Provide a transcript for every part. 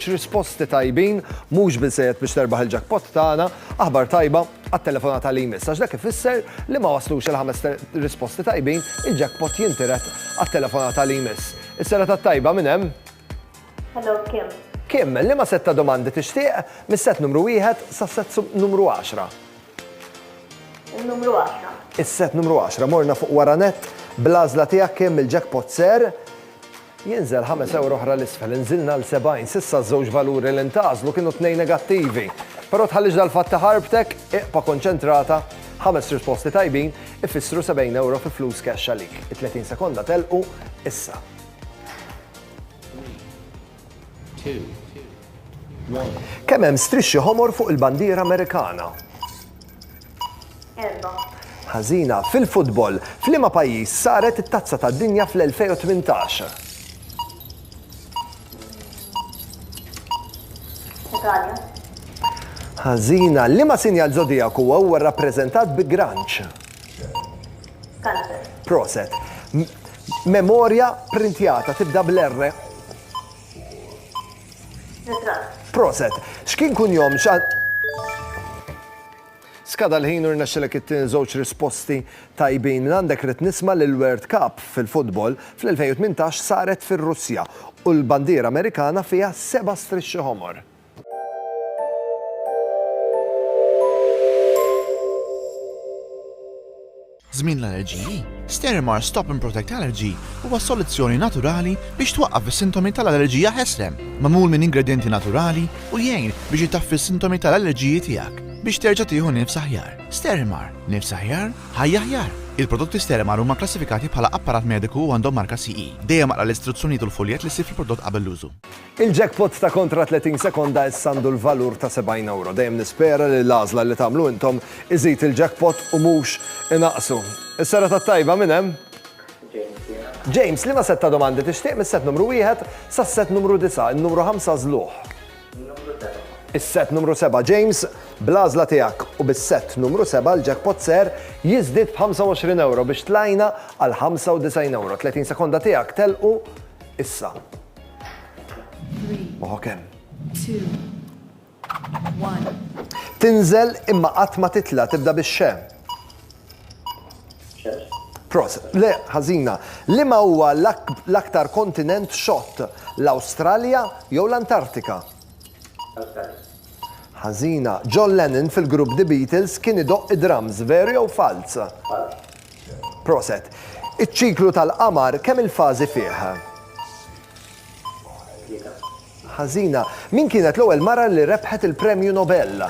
X'risposti tajbin, mhux biżżejjed biex terbaħ il-jackpot tagħna, aħbar tajba għat-telefonata li jmiss, għax dak ifisser li ma waslux il-ħames risposti tajbin, il-jackpot jintiret għat-telefonata li jmiss. Is-serata t-tajba minn hemm? Hello, Kim. Kim, liema sett ta' domandi tixtieq, mis-sett numru wieħed sas-sett numru għaxra? Il-numru għaxra. Is-sett numru għaxra, morna fuq wara nett, bl-għażla tiegħek Kim, il-jackpot ser Jinżel ħames ewro oħra 'l isfel, inżilna 'l sebgħin. S'issa ż-żewġ valuri li ntgħażlu kienu t-tnejn negattivi. Però tħallix dal-fatt iħarbtek, iqpa' konċentrata, ħames risposti tajbin ifissru sebgħin ewro fi flus cash għalik. It-tletin sekonda telqu issa. Kemm hemm strixxi ħomor fuq il-bandiera Amerikana? erba'. Ħażina. Fil-futbol, f'liema pajjiż saret it-Tazza tad-Dinja fl-2018? Italja. Ħażina. Liema sinjal żodijaku huwa rrappreżentat bi granċ? Kanċer. Proset. Memorja printjata tibda bl-R. Ritratt. Proset. X'kien kunjom xan. Skada l-ħin u rnexxilek ittini żewġ risposti tajbin minn għandek rrid nisma' li l-World Cup fil-futbol fl-2018 saret fir-Russja u l-bandiera Amerikana fiha seba' strixxi ħomor. Żmien l-allerġiji, Sterimer Stop and Protect Allergy huwa soluzzjoni naturali biex twaqqaf is-sintomi tal-allerġija ħesrem, magħmul minn ingredjenti naturali u jgħin biex itaffi s-sintomi tal-allerġiji tiegħek biex terġa' tieħu nifs aħjar. Sterimer, nifs aħjar, ħajja aħjar! Il-prodotti Sterimer huma kklassifikati bħala apparat mediku u għandhom marka CE. Dejjem aqra l-istruzzjonijiet u l-fuljett li ssib fil-prodott qabel l-użu. Il-jackpot ta' kontra 30 sekonda issa għandu l-valur ta' 70 ewro. Dejjem nispera li l-għażla li tagħmlu intom iżid il-jackpot u mhux inaqqsu. Is-serata t-tajba minn hemm? James jiena. James, liema sett ta' domandi tixtieq mis-sett numru wieħed sas-sett numru disa', in-numru ħamsa għażluh? In-numru seba'. Is-sett numru seba', James, bl-għażla tiegħek u bis-sett numru seba' l-jackpot ser jiżdied b'25 ewro biex tlajna għal 95 ewro. 30 sekonda tiegħek telqu issa. Oħok hemm. Tinżel imma qatt ma titla' tibda bix-xe. Pros, le, ħażina, li ma huwa l-aktar kontinent xott, l-Awstralja jew l-Antartika? Ħażina, John Lennon fil-grupp The Beatles kien idoqq id-drums, veru jew falz? Falz. Proset. Iċ-ċiklu tal-qamar kemm il-fażi fih? Tlieta. Ħażina, Min kienet l-ewwel mara li rebħet il-Premju Nobel?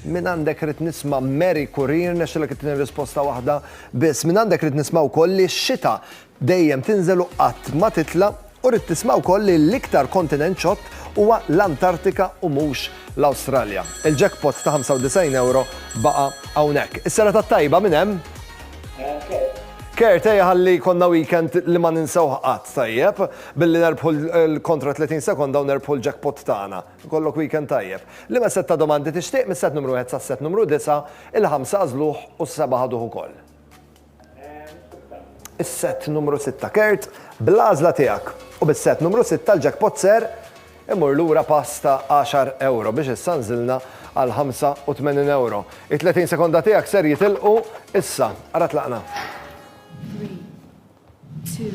Mingħandek irrid nisma' Mary Currie, rnexxilek ittini risposta waħda biss. Mingħandek irrid nisma' wkoll li x-xita dejjem tinżel u qatt ma titla' u rrid tisma' wkoll li l-iktar kontinent ċott huwa l-Antartika u mhux l-Awstralja. Il-jackpot ta' 95 ewro baqa' hawnhekk. Is-serata t-tajba minn hemm? Minn Kurt. Kurt, ejja ħalli jkollna weekend li ma ninsewh qatt, tajjeb? Billi nerbħu l-kontra 30 sekonda u nerbħu l-jackpot tagħna. Ikollok weekend tajjeb. Liema sett ta' domandi tixtieq, mis-sett numru wieħed sas-sett numru disgħa, il-ħamsa għażluh u s-sebgħa ħaduh ukoll. is-sett numru sitta kert, bl-għażla tiegħek, u bis-sett numru sitta l-jackpot ser imur lura pass ta' għaxar ewro biex issa nżilna għal ħamsa u tmenin ewro. It-tletin sekonda tiegħek ser jitilqu issa. Ara tlaqna. Three, two,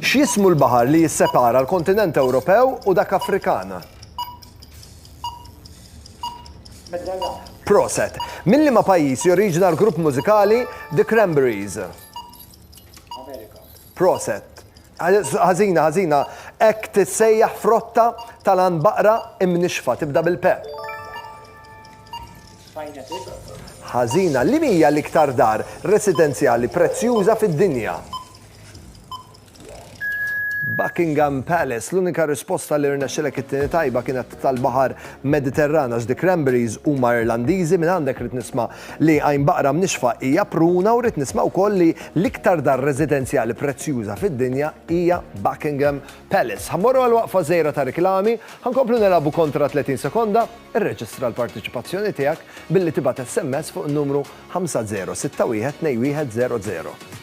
X'jismu l-baħar li jissepara l-kontinent Ewropew u dak Afrikan? Proset. Minn liema pajjiż joriġina l-grupp mużikali The Cranberries? Proset. Ħażina, ħażina. Hekk tissejjaħ frotta tal-għanbaqra imnixxfa, tibda bil-pe. Ħażina, Liema hija l-iktar dar residenzjali prezzjuża fid-dinja? Buckingham Palace, L-unika risposta li rnexxilek ittini tajba kienet tal-baħar Mediterran għax the cranberries huma Irlandiżi, mingħandek rrid nisma' li għajn baqra mnixxfa hija pruna u rrid nisma' wkoll li l-iktar dar residenzjali prezzjuża fid-dinja hija Buckingham Palace, Ħa mmorru għal waqfa żgħira ta' riklami, ħa nkomplu nilagħbu kontra 30 sekonda? Irreġistra l-parteċipazzjoni tiegħek billi tibgħat SMS fuq in-numru 50612100.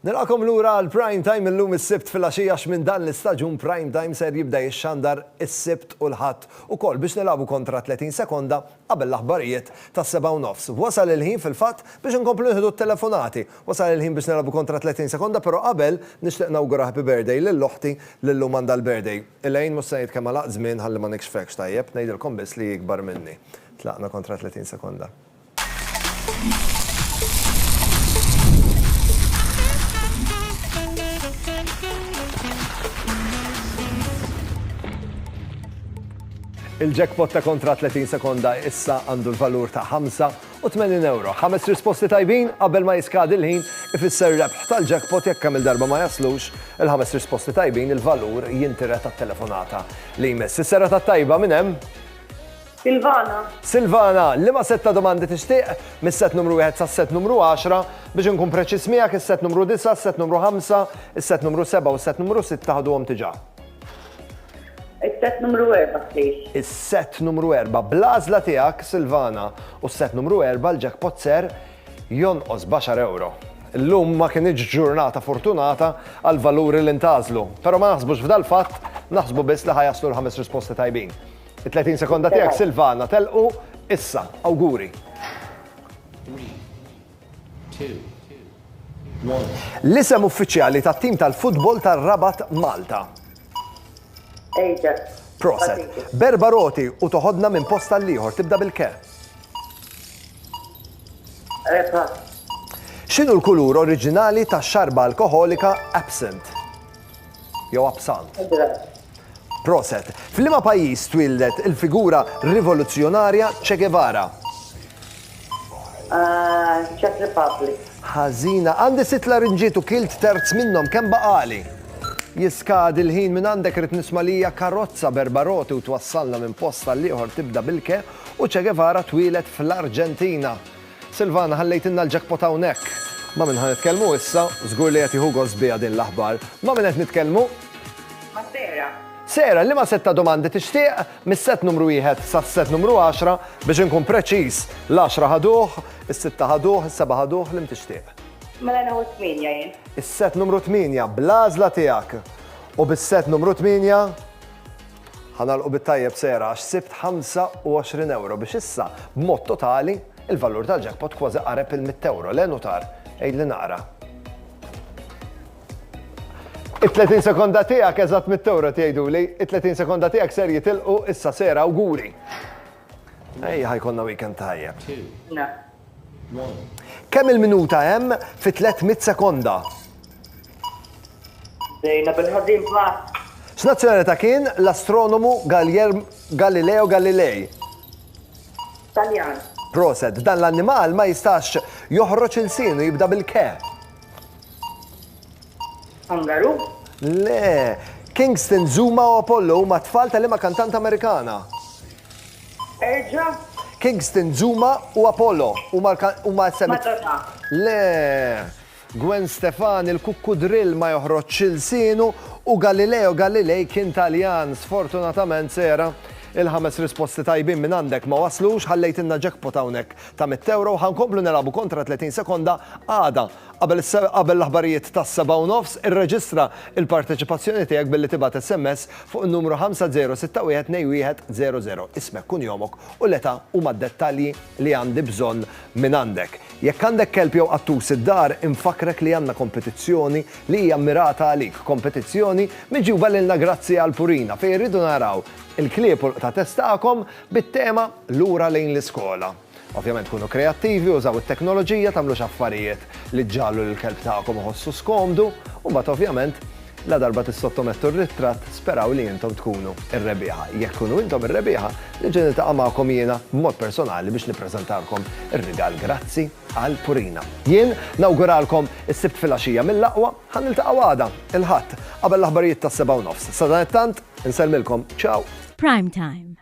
Nilqagħkom lura għal Prime Time illum is-Sibt filgħaxija għax minn dan l-istaġun Prime Time ser jibda jixxandar is-Sibt u l-Ħadd ukoll biex nilagħbu kontra 30 sekonda qabel l-aħbarijiet tas-sebgħa u nofs. Wasal il-ħin fil-fatt biex inkomplu nieħdu t-telefonati. Wasal il-ħin biex nilagħbu kontra 30 sekonda però qabel nixtieq nawgura happy birthday lil oħti li llum għandha l-birthday. Elaine mhux se ngħid kemm għalaqt żmien ħalli ma nikxfekx tajjeb, ngħidilkom biss li hi ikbar minni. Tlaqna kontra 30 sekonda. Il-jackpot ta' kontra 30 sekonda issa għandu l-valur ta' 85 euro. Ħames risposti tajbin qabel ma jiskadi l-ħin ifisser rebħ tal-jackpot jekk kemm il-darba ma jaslux il-ħames risposti tajbin il-valur jintira tat-telefonata li jmiss. Is-sera tat-tajba minn hemm Silvana. Silvana, liema sett ta' domandi tixtieq, mis-sett numru wieħed sas-sett numru għaxra? Biex inkun preċiż miegħek, is-sett numru disa', is-sett numru ħamsa, is-sett numru sebgħa u s-sett numru sitta ħaduhom diġà. Is-sett numru erba', please. Is-sett numru erba'. Bl-għażla tiegħek, Silvana, u s-sett numru erba' l-jackpot ser jonqos b'għaxar ewro. Illum ma kinitx ġurnata fortunata għall-valuri li ntgħażlu, però ma naħsbux f'dal-fatt, naħsbu biss li ħa jaslu l-ħames risposti tajbin. It-30 sekonda tiegħek Silvana telqu issa, awguri. L-isem uffiċjali tat-tim tal-futbol tar-Rabat Malta. Ajax. Proset. Berba roti u toħodna minn posta l-ieħor tibda bil-ke. Epa. X'inhu l-kulur oriġinali tax-xarba alkoħolika absent? Jew absant. Proset. F'liema pajjiż twieldet il-figura rivoluzzjonarja Che Guevara? Czech Republic. Ħażina. Għandi sitt larinġiet u kilt terz minnhom, kemm baqali? Jiskadi l-ħin minn għandek rrid nisma' li hija karozza b'erba' roti u twassalna minn post għall-ieħor tibda bil-ke u Che Guevara twieled fl-Arġentina. Silvana ħallejtilna l-jackpot hawnhekk! Ma' min ħa nitkellmu issa? Żgur li qed jieħu gost biha din l-aħbar. Ma' min qed nitkellmu? Ma' Sarah. Sarah, liema sett ta' domandi tixtieq? Mis-sett numru wieħed sas-sett numru għaxra, biex inkun preċiż, l-għaxra ħaduh, is-sitta ħaduh, is-sebgħa ħaduh, liem tixtieq? Mela nieħu t-tmienja jien. Is-sett numru tmienja, bl-għażla tiegħek. U bis-sett numru tmienja? Ħa nagħlqu bit-tajjeb sehra għax sibt 25 ewro biex issa, b'mod totali, il-valur tal-jackpot kważi qareb il-mitt ewro, le Nutar? Għidli naqra. It-30 sekonda tiegħek eżatt mitt ewro qed jgħiduli. It-30 sekonda tiegħek ser jitilqu issa sehra awguri. Ejja ħa jkollna weekend tajjeb. Kemm il-minuta hemm fi 300 sekonda? Bdejna bil-ħażin pass. X'nazzjonalità kien l-astronomu Galileo Galilei? Taljan. Proset, dan l-annimal ma jistax joħroġ il-sinu jibda bil-ke. Angaru? Le, Kingston, Zuma u Apollo huma tfal tal-ima kantant Amerikana. Erġa'. Kingston, Zuma u Apollo huma l-kan huma s-semi. Madonna. Le. Gwen Stefani, l-kukkudrill ma joħroġx ilsienu u Galileo Galilei kien Taljan. Sfortunatament, Sarah, il-ħames risposti tajbin minn għandek ma waslux, ħallejtilna jackpot hawnhekk ta' mitt ewro u ħa nkomplu nilagħbu kontra 30 sekonda għada. Qabel l-aħbarijiet tas-sebgħa u nofs, irreġistra l-parteċipazzjoni tiegħek billi tibgħat SMS fuq in-numru 50612100. Ismek, kunjomok u l-età huma d-dettalji li għandi bżonn mingħandek. Jekk għandek kelb jew qattus id-dar, infakkrek li għandna kompetizzjoni li hija mmirata għalik, kompetizzjoni miġjuba lilna grazzi għal Purina fejn irridu naraw il-klieb u l-qtates tagħkom bit-tema Lura lejn l-iskola. Ovvjament kunu kreattivi, użaw it-teknoloġija, tagħmlux affarijiet li ġġagħlu lill-kelb tagħkom iħossu skomdu, u mbagħad ovvjament, ladarba tissottomettu r-ritratt, speraw li intom tkunu r-rebbieħa. Jekk tkunu intom ir-rebbieħa, niġi niltaqa' magħkom jiena b'mod personali biex nippreżentalkom ir-rigal Grazzi għal Purina. Jien nawguralkom is-Sibt filgħaxija mill-aqwa. Ħa niltaqgħu għada, il-Ħadd, qabel l-aħbarijiet tas-sebgħa u nofs. Sadanittant, insellmilkom. Ciao! Primetime.